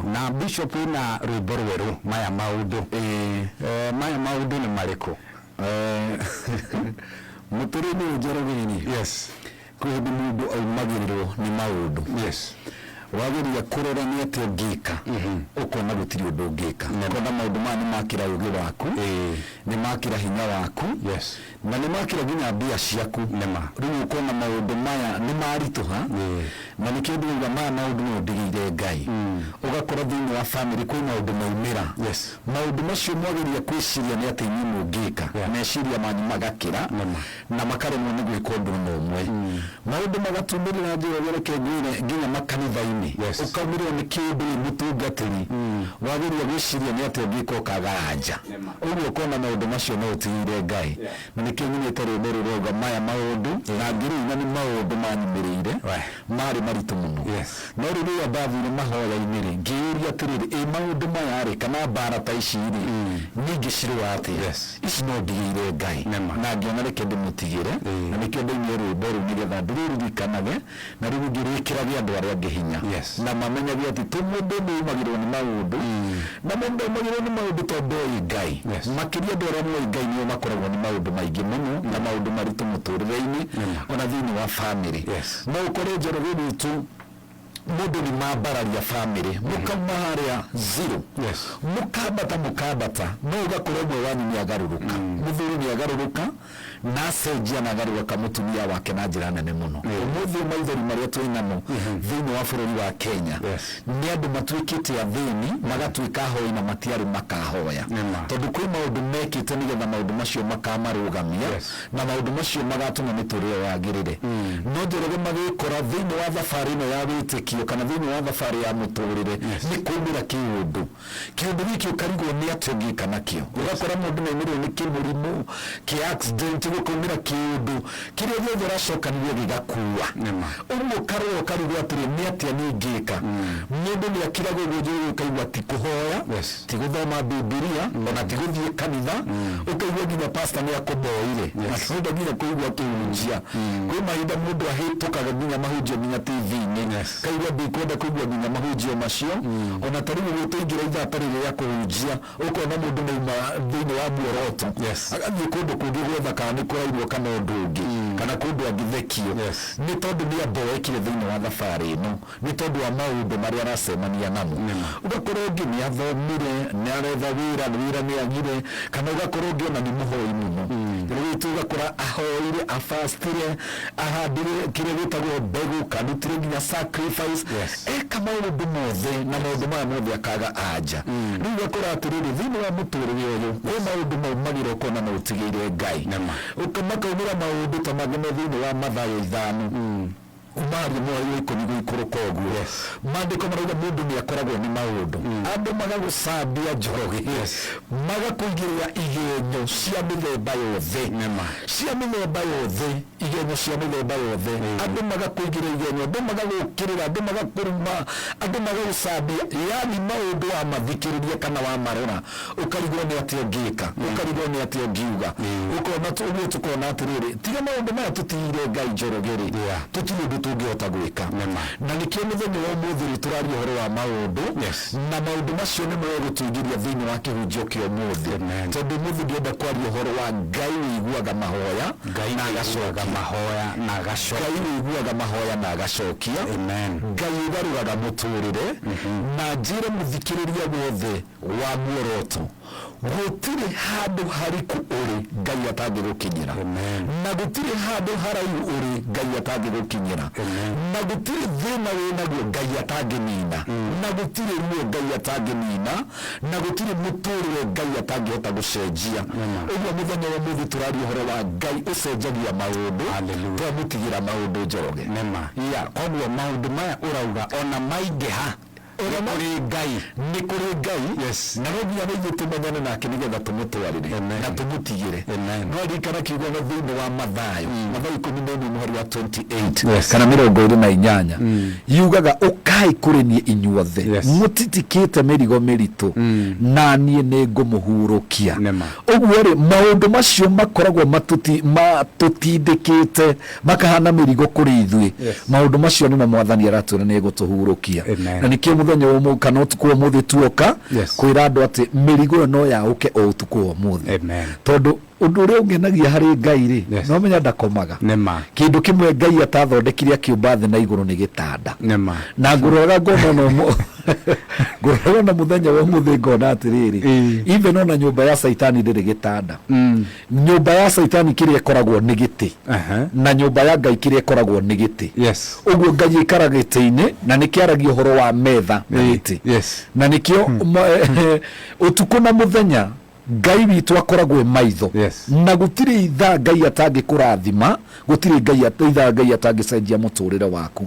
Na Bishop na rwĩmbo rwerũ maya maũndũ. Eeh maya maũndũ nĩ marĩkũ? Eeh mũtũrĩinĩ ũyũ njerereirĩ. Yes. Kwĩ hĩndĩ mũndũ aumagĩrĩrwo nĩ maũndũ. Yes. Wageria kũrora nĩ atĩa ũngĩka. Ũkona gũtirĩ ũndũ ũngĩka. Ũkona maũndũ maya nĩ makĩra ũgĩ waku. Nĩ makĩra hinya waku. Yes. Na nĩ makĩra nginya mbia ciaku. Nĩ ma. Rĩu ũkona maũndũ maya nĩ maritũha, na nĩkĩo ndĩrauga maya maũndũ no ndĩgĩire Ngai. Ũgakora thĩinĩ wa famĩlĩ kwĩ maũndũ maumĩra. Maũndũ macio mwageria kwĩciria nĩ atĩa inyuĩ mũngĩka, meciria manyu magakĩra na makaremwo nĩ gwĩka ũndũ o na ũmwe. Maũndũ magatumĩrĩra njĩra ĩrĩa reke ngwĩre nginya makanitha-inĩ, ũkaumĩrĩrwo nĩ kĩndũ wĩ mũtungatĩri, wageria gwĩciria nĩ atĩa ũngĩka ũkaga anja. Neema. Ũguo ũkona maũndũ macio no ũtigĩire Ngai. Na nĩkĩo nyinĩte rwĩmbo rũu rwauga, Maya maũndũ, na ngĩrĩu, na nĩ maũndũ maanyumĩrĩire, maarĩ maritũ mũno. No rĩu rĩrĩa ndathiire mahoya-inĩ-rĩ, ngĩĩyũria atĩrĩrĩ, Ĩ maũndũ maya-rĩ, kana mbaara ta ici-rĩ, niĩ ingĩcirũa atĩa? Ici no ndigĩire Ngai. Na ngĩona reke ndĩmũtigĩre, na nĩkĩo ndainire rwĩmbo rũu nĩgetha ndĩrũririkanage Na rĩu ũngĩ wĩkĩrage andũ arĩa angĩ hinya Yes. na mamenyage atĩ ti mũndũ ũmwe umagĩrwo nĩ maũndũ na mũndũ ndaumagĩrwo nĩ maũndũ tondũ oĩ Ngai Yes. makĩria andũ arĩa moĩ Ngai nĩo makoragwo nĩ maũndũ maingĩ mũno na maũndũ maritũ mũtũrĩre-inĩ Nĩma. ona thĩinĩ wa bamĩrĩ Yes. no ũkore njorogĩ gwitũ mũndũ nĩ mambararia bamĩrĩ mũkauma harĩa zero Yes. mũkambata mũkambata no ũgakora ũmwe wanyu nĩ agarũrũka mũthuri nĩ agarũrũka na acenjia na agaruaka mutumia wake na njira nene muno umuthi uyu maithori maria twi namo thiini wa bururi wa Kenya Yes. ni andu matuikite athini magatuika ahoi na matiari makahoya Nĩma. tondu kwi maundu mekite nigetha maundu macio makamarugamia Yes. na maundu macio magatuma miturire yagirire no njoroge magikora thiini wa thabari ino ya witikio kana thiini wa thabari ya muturire ni kumira kiundu Kĩndũ gĩkĩ ũkarigwo nĩ atĩa ũngĩka nakĩo. Ũgakora mũndũ nĩ aumĩrwo nĩ kĩmũrimũ, kĩ accident, gũkaumĩra kĩũndũ, kĩrĩa gĩothe ũracokanĩrĩria gĩgakua. Nĩma. Ũguo ũkarora ũkarigwo atĩrĩ nĩ atĩa niĩ ingĩka. Mũndũ nĩ akiragwo ũguo njũĩ rĩu ũkaigua ti kũhoya, Yes. ti gũthoma Bibilia, ona ti gũthiĩ kanitha, ũkaigua nginya pastor nĩ akũboire. Na ndũrenda nginya kũigua akĩhunjia. Kwĩ mahinda mũndũ ahĩtũkaga nginya mahunjio nginya TV-inĩ. Yes. Kaigua ndũkwenda kũigua nginya mahunjio macio. O na ta rĩu ũgĩtũingĩra ithaa ta rĩrĩ rĩa kũhunjia, ũkona mũndũ mauma thĩinĩ wa muoroto, Yes. agathiĩ kũndũ kũngĩ gwetha kana nĩ kũrainwo kana ũndũ ũngĩ, kana kũndũ angĩthekio. Yes. Nĩ tondũ nĩ aboekire thĩinĩ wa thabarĩ ĩno, nĩ tondũ wa maũndũ marĩa aracemania namo. Nĩma. Ũgakora ũngĩ nĩ athomire, nĩ aretha wĩra, wĩra nĩ agire, kana ũgakora ũngĩ o na nĩ mũhoi mũno. Rĩngĩ ũgakora ahoire, a fast ire, ahandire kĩrĩa gĩtagwo mbegũ kandutire nginya sacrifice Yes. eka maũndũ mothe na maũndũ maya mothe akaga anja rĩu gakora atĩrĩrĩ thĩinĩ wa mũtũrĩre ũyũ kwĩ maũndũ maumagĩra ũkona na ũtigĩire ngai Nĩma. Ũka- makaumĩra maũndũ ta mangĩ me thĩinĩ wa mathayo ithano umaria mweri wa ikũmi gũikũrũka ũguo Yes. maandĩko marauga mũndũ nĩ akoragwo nĩ maũndũ andũ magagũcambia njoroge Yes. magakũigĩrĩra igenyo cia mĩthemba yothe Nĩma. Cia mĩthemba yothe, igenyo cia mĩthemba yothe, andũ magakũigĩra igenyo, andũ magagũũkĩrĩra, andũ magakũruma, andũ magagũcambia, yaani maũndũ wamathikĩrĩria kana wamarora ũkarigwo nĩ atĩa ũngĩka, ũkarigwo nĩ atĩa ũngiuga, ũkona tu ũguo tũkona atĩrĩrĩ, tiga maũndũ maya tũtigĩire Ngai Njoroge-rĩ, Yeah. tũtirĩ ũndũ tũngĩhota gwĩka. Nĩ ma. Na nĩkĩo mũthenya wa ũmũthĩ-rĩ, tũraria ũhoro wa maũndũ, Yes. Na maũndũ macio nĩmo egũtũigĩria thĩinĩ wa kĩhunjio kĩa ũmũthĩ. Amen. Tondũ ũmũthĩ ndĩrenda kwaria ũhoro wa Ngai ũiguaga mahoya Ngai na ũiguaga agacokia. mahoya na Ngai agacokia. ũiguaga mahoya na agacokia. Amen. Ngai ũgarũraga mũtũrĩre. Na njĩre mũthikĩrĩria wothe wa muoroto. Gũtirĩ handũ hariku ũrĩ Ngai atangĩgũkinyĩra. Amen. Na gũtirĩ handũ haraihu ũrĩ Ngai atangĩgũkinyĩra. Amen. Na gũtirĩ thĩna wĩ naguo Ngai atangĩnina. Na gũtirĩ ruo Ngai atangĩnina. Na gũtirĩ mũtũrĩre Ngai atangĩhota gũcenjia. Amen. Ũguo mũthenya wa ũmũthĩ tũraria ũhoro wa Ngai ũcenjagia maũndũ. Hallelujah. Twamũtigĩra maũndũ Njoroge. Nĩ ma. Yeah. Koguo maũndũ maya ũrauga ona maingĩha Nĩ kũrĩ Ngai. Nĩ kũrĩ Ngai. Na no nginya rĩngĩ tũmenyane nake nĩ getha tũmũtwarĩre na tũmũtigĩre. No ririkana kiugo ona thĩinĩ wa Mathayo, Mathayo ikũmi na ĩmwe mũhari wa 28 kana mĩrongo ĩrĩ na inyanya, yugaga, Ũkai kũrĩ niĩ inyuothe mũtitikĩte mĩrigo mĩritũ, na niĩ nĩ ngũmũhurũkia. Ũguo-rĩ, maũndũ macio makoragwo matũtindĩkĩte. makahaana mĩrigo kũrĩ ithuĩ Yes. maũndũ macio nĩmo mwathani aratwĩra nĩ egũtũhurũkia Amen. na nĩkĩo mũthenya wa ũmũ- kana ũtukũ wa ũmũthĩ tuoka Yes. kwĩra andũ atĩ mĩrigo ĩyo no yaũke o ũtukũ wa ũmũthĩ Amen. tondũ ũndũ ũrĩa ũngenagia harĩ ngai rĩ Yes. no menya ndakomaga nĩ ma kĩndũ kĩmwe ngai atathondekire akĩũmba thĩ na igũrũ nĩ gĩtanda nĩ ma na ngũroraga ngona ona ũmũ- ngũroraga ona mũthenya wa ũmũthĩ ngona atĩrĩrĩ Ĩĩ. even ona nyũmba ya caitani ndĩrĩ gĩtanda Mm. Nyũmba ya Caitani kĩrĩa ĩkoragwo nĩ gĩtĩ, na nyũmba ya Ngai kĩrĩa ĩkoragwo nĩ gĩtĩ. Ũguo Ngai aikaraga gĩtĩ-inĩ, na nĩkĩo aragia ũhoro wa metha na gĩtĩ. Na nĩkĩo ũtukũ na mũthenya Ngai witũ akoragwo e maitho, na gũtirĩ ithaa Ngai atangĩkũrathima, gũtirĩ ithaa Ngai atangĩcenjia mũtũrĩre waku.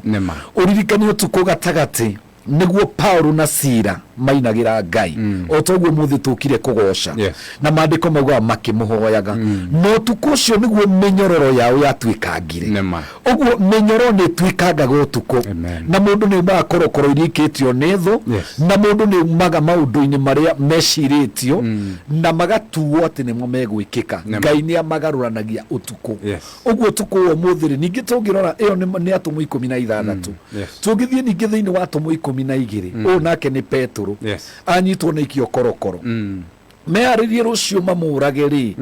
Ũririkane ũtukũ gatagatĩ nĩguo paulo na sira mainagĩra ngai o ta ũguo mũthĩ tũkire kũgoca Yes. na maandĩko maugaga makĩmũhoyaga no ũtukũ ũcio nĩguo mĩnyororo yao yatuĩkangire Nĩma. ũguo mĩnyororo nĩ ĩtuĩkangaga ũtukũ Amen. na mũndũ nĩ umaga korokoro iria ikĩtio nĩ thũ Yes. na mũndũ nĩ umaga maũndũ-inĩ marĩa mecirĩtio na magatuo atĩ nĩmo megwĩkĩka Nĩma. ngai nĩ amagarũranagia ũtukũ Yes. ũguo ũtukũ wa ũmũthĩ rĩ ningĩ tũngĩrora ĩyo nĩ- nĩ atũmwo ikũmi na ithathatũ yes. tũngĩthiĩ ningĩ thĩinĩ wa atũmwo ikũmi na igĩrĩ ũyũ nake nĩ petũrũ Yes. anyitwo na ikio korokoro Mm. meharĩrie rũciũ mamũrage rĩ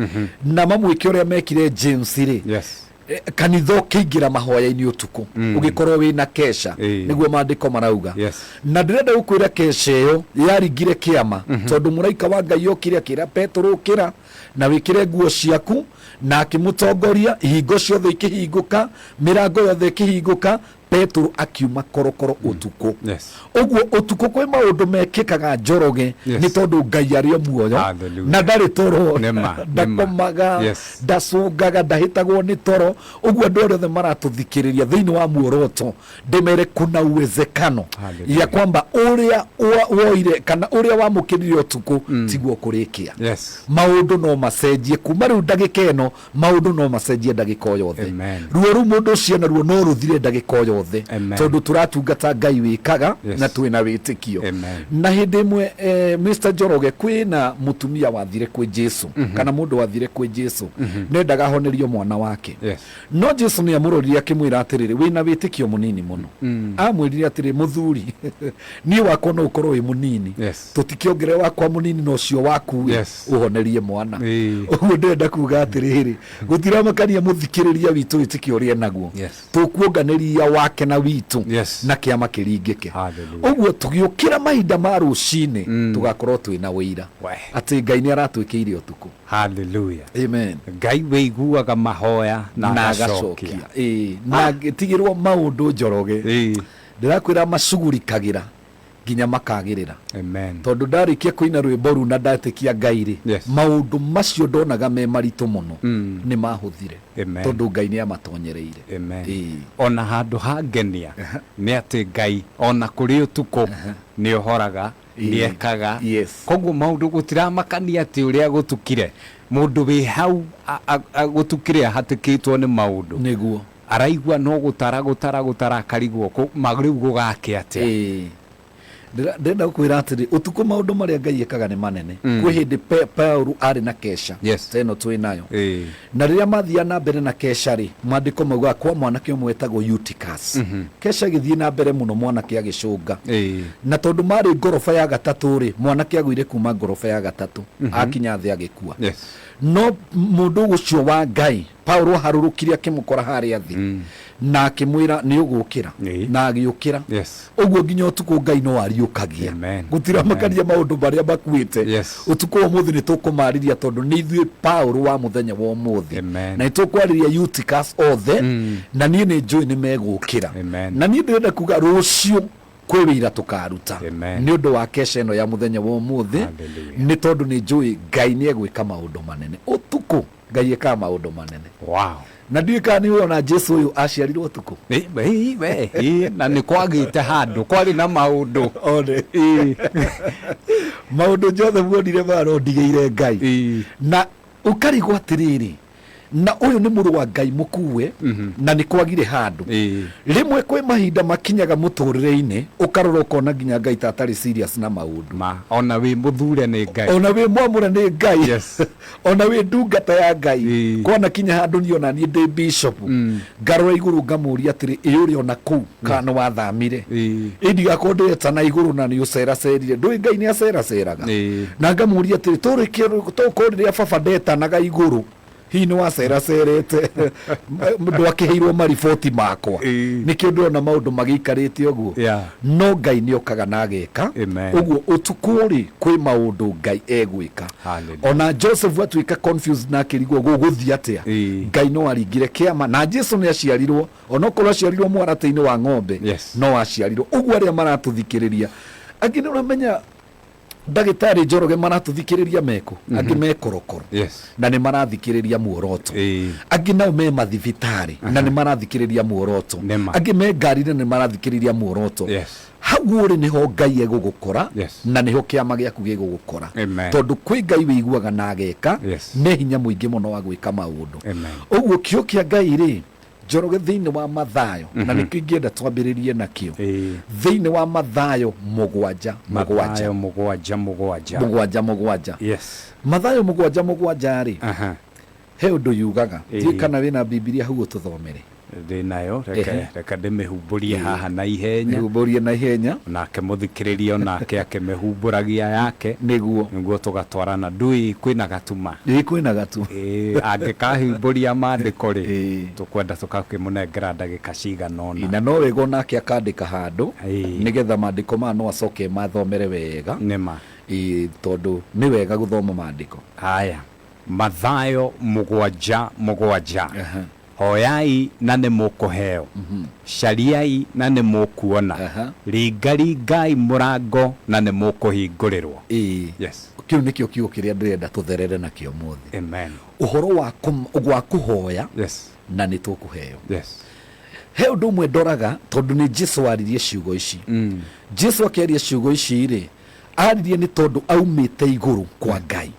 na mamwĩke ũrĩa mekire james rĩ Yes. Eh, kanitha ũkĩingĩra mahoya-inĩ ũtukũ ũgĩkorwo wĩ na kesha Eh. nĩguo maandĩko marauga Yes. na ndĩrenda gũkwĩra kesha ĩyo yaringire kĩama tondũ mũraika wa ngai okire akĩra petũrũ ũkĩra na wĩkĩre nguo ciaku. Na akĩmũtongoria, ihingo ciothe ikĩhingũka, mĩrango yothe ĩkĩhingũka, Petero akiuma korokoro mm. ũtukũ. Yes. Ũguo ũtukũ kwĩ maũndũ mekĩkaga Njoroge yes. nĩ tondũ Ngai arĩ o muoyo na ndarĩ toro ndakomaga yes. ndacũngaga ndahĩtagwo nĩ toro. Ũguo andũ arĩa othe maratũthikĩrĩria thĩinĩ wa muoroto ndimere kuna uwezekano Hallelujah. ya kwamba uria wa- woire kana uria wamukirire utuku tiguo kurikia Yes. maundu no macenjie kuma riu ndagika ino maundu no macenjie ndagika o yothe Amen. ruo ru mundu ucio naruo no ruthire ndagika o yothe Amen. tondu turatungata ngai wikaga Yes. na twina witikio Amen. na hindi imwe eh, mr njoroge kwina mutumia wathire kwi jesu kana mundu wathire kwi jesu nendaga ahonerio mwana wake Yes. No Jesu nĩ amũrorire akĩmwĩra atĩrĩrĩ, wĩ na wĩtĩkio mũnini mũno. Aamwĩrire atĩrĩ, mũthuri, niĩ wakwa no ũkorwo wĩ mũnini, Yes. tũtikĩongerere wakwa mũnini na ũcio waku rĩ, Yes. ũhonerie mwana. Ĩĩ. Ũguo ndĩrenda kuga atĩrĩrĩ, gũtiramakania mũthikĩrĩria witũ wĩtĩkio ũrĩa enaguo, Yes. tũkuonganĩria wake na witũ Yes. na kĩama kĩringĩke. Hallelujah. Ũguo tũgĩũkĩra mahinda ma rũcinĩ tũgakorwo twĩ na ũira Weh. atĩ Ngai nĩ aratwĩkĩire ũtukũ. Hallelujah. Amen. Ngai wĩiguaga mahoya na na agacokia. agacokia Ĩĩ, na angĩtigĩrwo maũndũ njoroge Ĩĩ. ndĩrakwĩra macugurikagĩra nginya makagĩrĩra Amen. tondũ ndarĩkia kũina rwĩmbo ruu na ndatĩkia ngai rĩ Yes. maũndũ macio ndonaga me maritũ mũno Mm. nĩ mahũthire Amen. tondũ ngai nĩ amatonyereire Amen. Ĩĩ. ona handå hangenia nä atä ngai ona kå rä å tukå nä å horaga nĩ ekaga Yes. koguo maũndũ gũtiramakania atĩ ũrĩa gũtukire mũndũ wĩ hau a- a- a- gũtukire ahatĩkĩtwo nĩ maũndũ nĩguo araigua no gũtara gũtara gũtara akarigwo kũ- ma rĩu gũgake atĩa Ĩĩ. Ndĩra- ndĩrenda gũkwĩra atĩrĩ ũtukũ maũndũ marĩa ngai ekaga nĩ manene kwĩ hĩndĩ Pe- paulo arĩ na kesha Yes. ta ĩno twĩ nayo Ĩĩ. Na rĩrĩa maathiaga na mbere na Kesha-rĩ, Maandĩko maugaga, Kwa mwanake ũmwe wetagwo Eutychus. Kesha agĩthiĩ na mbere mũno, mwanake agĩcũnga. Na tondũ maarĩ ngoroba ya gatatũ-rĩ, mwanake aagũire kuuma ngoroba ya gatatũ, aakinya thĩ agĩkua. No mũndũ ũcio wa Ngai, Paulo aaharũrũkire akĩmũkora harĩa thĩ. Na akĩmwĩra, Nĩũgũũkĩra. Ĩĩ. Na agĩũkĩra. Yes. Ũguo nginya ũtukũ Ngai no ariũkagia. Amen. Gũtiramakania maũndũ marĩa makuĩte. Yes. Ũtukũ wa ũmũthĩ nĩ tũkũmarĩria tondũ nĩ ithuĩ Paũlũ wa mũthenya wa ũmũthĩ. Amen. Na nĩ tũkwarĩria Eutychus othe na niĩ nĩ njũĩ nĩ megũũkĩra. Amen. Na niĩ ndĩrenda kuga rũciũ kwĩ wĩira tũkaruta Amen. nĩ ũndũ wa kesha ĩno ya mũthenya wa ũmũthĩ Hallelujah. nĩ tondũ nĩ njũĩ Ngai nĩ egwĩka maũndũ manene. Ũtukũ ngai ĩkaa maũndũ manene wow. na ndiũĩ kana nĩ ona jesu ũyũ aciarirwo tukũ Ĩ, ĩ, we, ĩ, na nĩ kwagĩte handũ kwarĩ na maũndũ one Ĩ, maũndũ jothe muonire maro ndigĩire ngai ĩ, na ũkarigwo atĩrĩrĩ na ũyũ nĩ mũrũ wa ngai mũkuue Mhm. na nĩ kwagire handũ ĩ. rĩmwe kwĩ mahinda makinyaga mũtũrĩre-inĩ ũkarora ũkona nginya ngai ta atarĩ serious na maũndũ ma ona wĩ mũthure nĩ ngai ona wĩ mwamũre nĩ ngai Yes. ona wĩ ndungata ya ngai Ĩĩ. kwanakinya handũ niĩ ona niĩ ndĩ bishopu Mm. ngarora igũrũ ngamũria atĩrĩ ĩ ũrĩ ona kũu kana nĩ wathamire Ĩĩ. ĩ ndigakorwo ndĩreta na igũrũ na nĩ ũceracerire ndũĩ ngai nĩ aceraceraga Ĩĩ. na ngamũria atĩrĩ tũrĩkĩ tokorwo rĩrĩa baba ndetanaga igũrũ hihi nĩ waceracerete ndwakĩheirwo mariboti makwa Ĩĩ. nĩkĩo ndĩrona maũndũ magĩikarĩte ũguo Yeah. no ngai nĩ okaga na ageka Amen. ũguo ũtukũ rĩ kwĩ maũndũ ngai egwĩka Hallelujah. ona joseph atuĩka confused na akĩrigwo gũgũthiĩ atĩa Ĩĩ. ngai no aringire kĩama na jesu nĩ aciarirwo onokorwo aciarirwo mwaratĩ-inĩ wa ng'ombe Yes. no aciarirwo ũguo arĩa maratũthikĩrĩria angĩ nĩ ũramenya ndagĩtarĩ njoroge maratũthikĩrĩria mekũ angĩ me korokoro Yes. na nĩ marathikĩrĩria muoroto Ĩĩ. angĩ nao me mathibitarĩ na nĩ marathikĩrĩria muoroto Nĩ ma. angĩ me ngari na nĩ marathikĩrĩria muoroto Yes. hau ũrĩ nĩho ngai egũgũkora Yes. na nĩho kĩama gĩaku gĩgũgũkora Amen. tondũ kwĩ ngai wĩiguaga na ageka Yes. nĩ hinya mũingĩ mũno wa gwĩka maũndũ Amen. ũguo kĩo kĩa ngai rĩ njoroge thĩinĩ wa mathayo na nĩkĩo ingĩenda twambĩrĩrie nakĩo Ĩĩ. thĩinĩ wa mathayo mũgwanja mũgwanja mathayo mũgwanja mũgwanja mũgwanja mũgwanja Yes. mathayo mũgwanja mũgwanja rĩ Aha. He ũndũ yugaga. Ndiũĩ Ĩĩ. kana wĩna Bibilia hau ũtũthomere. Ndĩ nayo, reke Ehe. reka ndĩmĩhumbũrie haha na ihenya. Mĩhumbũrie na ihenya. Nake mũthikĩrĩria o nake akĩmĩhumbũragia yake. Nĩguo. Nĩguo tũgatwarana. Ndũĩ kwĩna gatuma? Ĩĩ kwĩna gatu. Ĩĩ, angĩkahumbũria maandĩko-rĩ, Ĩĩ. tũkwenda tũgakĩmũnengera ndagĩka cigana Ĩĩ, ũna. na no wega o nake akandĩka handũ, Ĩĩ. nĩgetha maandĩko maya no acoke emathomere wega. Nĩ ma. Ĩĩ, tondũ nĩ wega gũthoma maandĩko. Haya. Mathayo mũgwanja mũgwanja, Hoyai na nĩ mũkũheo, cariai na nĩ mũkuona, ringaringai mũrango na nĩ mũkũhingũrĩrwo. Ĩĩ. Yes. Kĩu nĩkĩo kiugo kĩrĩa ndĩrenda tũtherere nakĩo ũmũthĩ. Amen. Ũhoro wa gwa kũhoya Yes. na nĩ tũkũheo. Yes. He ũndũ ũmwe ndoraga tondũ nĩ Jesu waririe ciugo ici. Jesu akĩaria ciugo ici-rĩ, aririe nĩ tondũ aumĩte igũrũ kwa ngai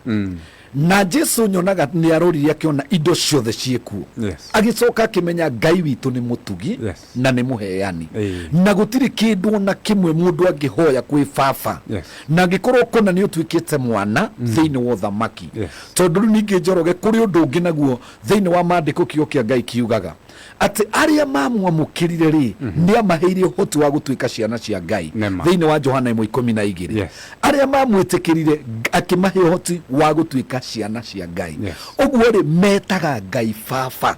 na jesu nyonaga nĩ arorire akĩona indo ciothe ciĩkuo Yes. agĩcoka akĩmenya ngai witũ nĩ mũtugi Yes. na nĩ mũheani Ĩĩ. na gũtirĩ kĩndũ ona kĩmwe mũndũ angĩhoya kwĩ baba Yes. na angĩkorwo kũna nĩ ũtuĩkĩte mwana thĩinĩ wa ũthamaki Yes. tondũ rĩu ningĩ njoroge kũrĩ ũndũ ũngĩ naguo thĩinĩ wa maandĩko kiugo kĩa ngai kiugaga atĩ arĩa mamwamũkĩrire rĩ mhm. nĩ amaheire ũhoti wa gũtuĩka ciana cia ngai thĩinĩ wa johana ĩmwe ikũmi na igĩrĩ arĩa mamwĩtĩkĩrire akĩmahe ũhoti wa gũtuĩka ciana cia ngai ũguo rĩ metaga ngai baba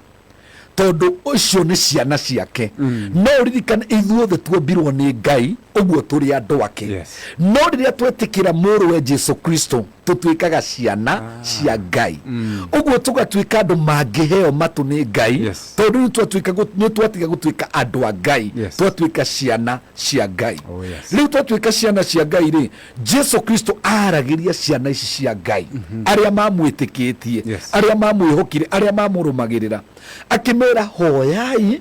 tondũ ũcio nĩ ciana ciake mm. no ririkana ithuothe tuombirwo nĩ ngai ũguo tũrĩ andũ ake no rĩrĩa twetĩkĩra mũrũwe jesu kristo tũtuĩkaga ciana ah. cia ngai mm. ũguo tũgatuĩka andũ mangĩheo matũ nĩ ngai yes. tondũ nĩ twatiga gũtuĩka andũ a ngai yes. twatuĩka ciana cia ngai oh, yes. rĩu twatuĩka ciana cia ngai rĩ jesu kristo aragĩria ciana ici cia ngai mm -hmm. arĩa mamwĩtĩkĩtie yes. arĩa mamwĩhokire arĩa mamũrũmagĩrĩra akĩmera hoyai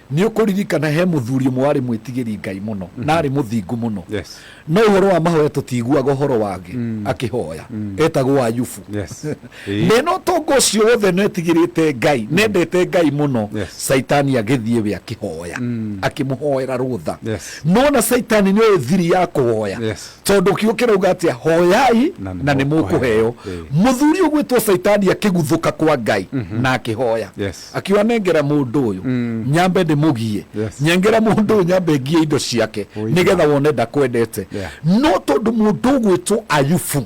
Nĩ ũkũririkana he mũthuri ũmwe warĩ mwĩtigĩri Ngai mũno na arĩ mũthingu mũno. Yes. No ũhoro wa mahoya tũtiiguaga ũhoro wake akĩhoya. Etagwo Ayubu. Yes. Ĩĩ. Na ĩno ũtonga ũcio wothe na etigĩrĩte Ngai, na endete Ngai mũno, Yes. Caitani agĩthiĩ we akĩhoya, akĩmũhoera rũtha. Yes. No ona Caitani nĩ oĩ thiri ya kũhoya. Yes. Tondũ kiugo kĩrauga atĩa, hoyai Na nĩ na nĩ mũkũheo. mũkũheo. Ĩĩ. Mũthuri ũgwĩtwo Caitani akĩguthũka kwa Ngai na akĩhoya. Yes. akiuga nengera mundu uyu nyambe ndimugie Yes. nyengera mundu uyu nyambe ngie indo ciake Ũiga. nigetha wone ndakwendete Yeah. no tondu mundu ugwitwo ayubu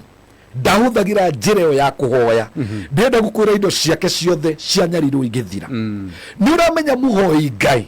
ndahũthagĩra njĩra ĩyo ya kũhoya ndĩrenda gũkwĩra indo ciake ciothe cianyarirwo ingĩthira nĩ ũramenya mũhoi ngai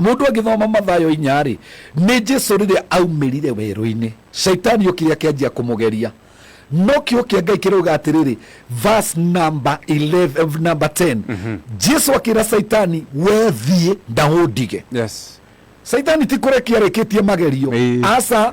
Mũndũ agĩthoma Mathayo inya-rĩ, nĩ Jesu rĩrĩa aumĩrire werũ-inĩ, Shaitani okire akĩanjia kũmũgeria. No kiugo kĩa Ngai kĩrauga atĩrĩrĩ, verse number 11, number 10. Jesu akĩra Shaitani, we thiĩ na ũndige. Yes. Shaitani ti kũrekia arĩkĩtie magerio. Ĩĩ. Aca.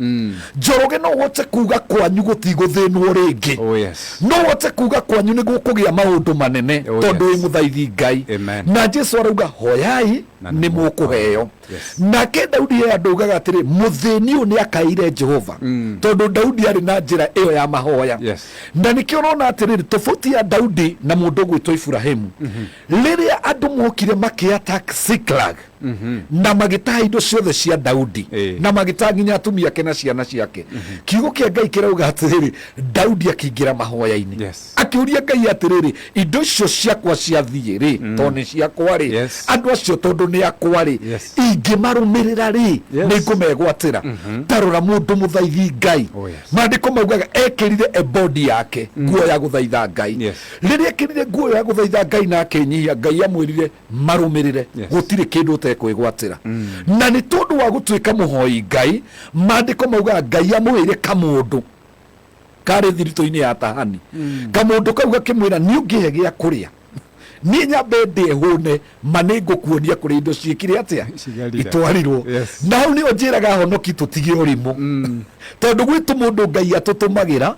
mm. njoroge no wote kuga kwanyu gutiguthinwo ringi oh, yes. no wote kuga kwanyu ni gukugia maundu manene oh, tondu wi yes. muthaithi ngai Amen. na jesu arauga hoyai ni mukuheo yes. nake daudi he andu ugaga atiri muthini uyu ni akaire jehova mm. tondu daudi ari na njira iyo ya mahoya yes. na nikio urona atiriri tofauti ya daudi na mundu ugwitwo iburahimu mm -hmm. riria andu mokire makiatak siklag na magĩtaha indo ciothe cia daudi Ĩĩ. na magĩtaha nginya atumia ake na ciana ciake kiugo kĩa ngai kĩrauga atĩrĩrĩ daudi akĩingĩra mahoya-inĩ Yes. akĩũria ngai atĩrĩrĩ indo icio ciakwa ciathiĩ rĩ tondũ nĩ ciakwa rĩ Yes. andũ acio tondũ nĩ akwa rĩ Yes. ingĩmarũmĩrĩra rĩ Yes. nĩ ngũmegwatĩra tarora mũndũ mũthaithi ngai Oh, yes. maandĩko maugaga ekĩrire ebodi yake nguo ya gũthaitha ngai Yes. rĩrĩa ekĩrire nguo ya gũthaitha ngai na akĩnyihia ngai amwĩrire marũmĩrĩre Yes. gũtirĩ kĩndũ ũtekwĩgwatĩra na nĩ tondũ wa gũtuĩka mũhoi ngai maandĩko maugaga ngai amũheire kamũndũ karĩ thiritũ-inĩ ya tahani kamũndũ kau gakĩmwĩra nĩ ũngĩhe gĩa kũrĩa niĩ nyambe ndĩe hũne ma nĩ ngũkuonia kũrĩa indo ciĩkire atĩa Cigarire. itwarirwo Yes. na hau nĩo njĩraga ahonoki tũtige ũrimũ tondũ gwitũ mũndũ ngai atũtũmagĩra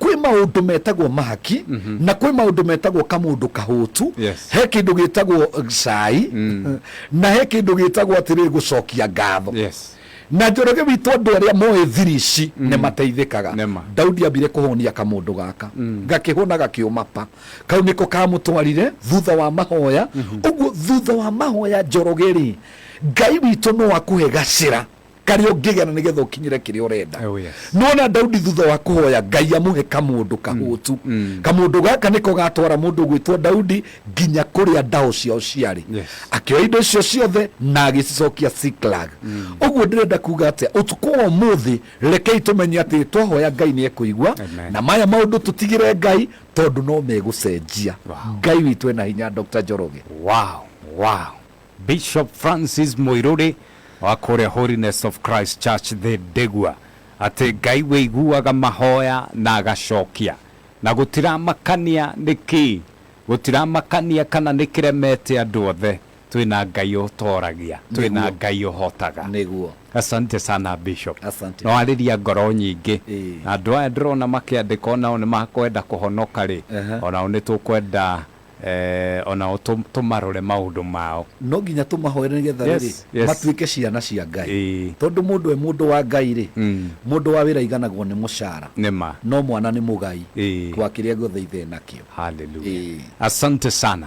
kwĩ maũndũ metagwo mahaki na kwĩ maũndũ metagwo kamũndũ kahũtu Yes. he kĩndũ gĩtagwo cai na he kĩndũ gĩtagwo atĩrĩrĩ gũcokia ngatho yes na njoroge witũ andũ arĩa moĩ thiri ici nĩ mateithĩkaga Nĩ ma. daudi ambire kũhonia kamũndũ gaka gakĩhũna gakĩũma pa kau nĩko kamũtwarire thutha wa mahoya ũguo thutha wa mahoya njoroge rĩ ngai witũ no akũhe gacĩra karĩa ũngĩgĩa na nĩgetha ũkinyĩre kĩrĩa ũrenda Oh, yes. nona daudi thutha wa kũhoya ngai amũhe kamũndũ kahũtu kamũndũ gaka nĩko gatwara mũndũ gwĩtwo daudi nginya kũrĩa ndaho ciao ciarĩ Yes. akĩoya indo icio ciothe na agĩcicokia siklag ũguo ndĩrenda kuga atĩa ũtukũ wa ũmũthĩ rekei tũmenye atĩ twahoya ngai nĩ ekũigua Amen. na maya maũndũ tũtigĩre ngai tondũ no megũcenjia Wow. ngai witũ ena hinya dr njoroge wow wow Bishop Francis Mũirũrĩ wa kũrĩa Holiness of Christ Church thĩ Ndegwa atĩ Ngai wĩiguaga mahoya na agacokia na gũtiramakania nĩ kĩĩ, gũtiramakania kana nĩ kĩremete andũ othe, twĩna Ngai ũtoragia, twĩna Nĩguo. Ngai ũhotaga. Nĩguo. Asante sana Bishop. Asante. Nĩ warĩria ngoro nyingĩ. Ĩĩ. Na andũ aya ndĩrona makĩandĩka o nao nĩ makwenda kũhonoka rĩ, Aha. o nao nĩ tũkwenda o nao tũmarore maũndũ mao. No nginya tũmahoere nĩ getha rĩrĩ, matuĩke ciana cia Ngai. Tondũ mũndũ e mũndũ wa Ngai rĩ, mũndũ wa wĩra aiganagwo nĩ mũcara, no mwana nĩ mũgai wa kĩrĩa gĩothe Ithe e nakĩo. Hallelujah. Asante sana.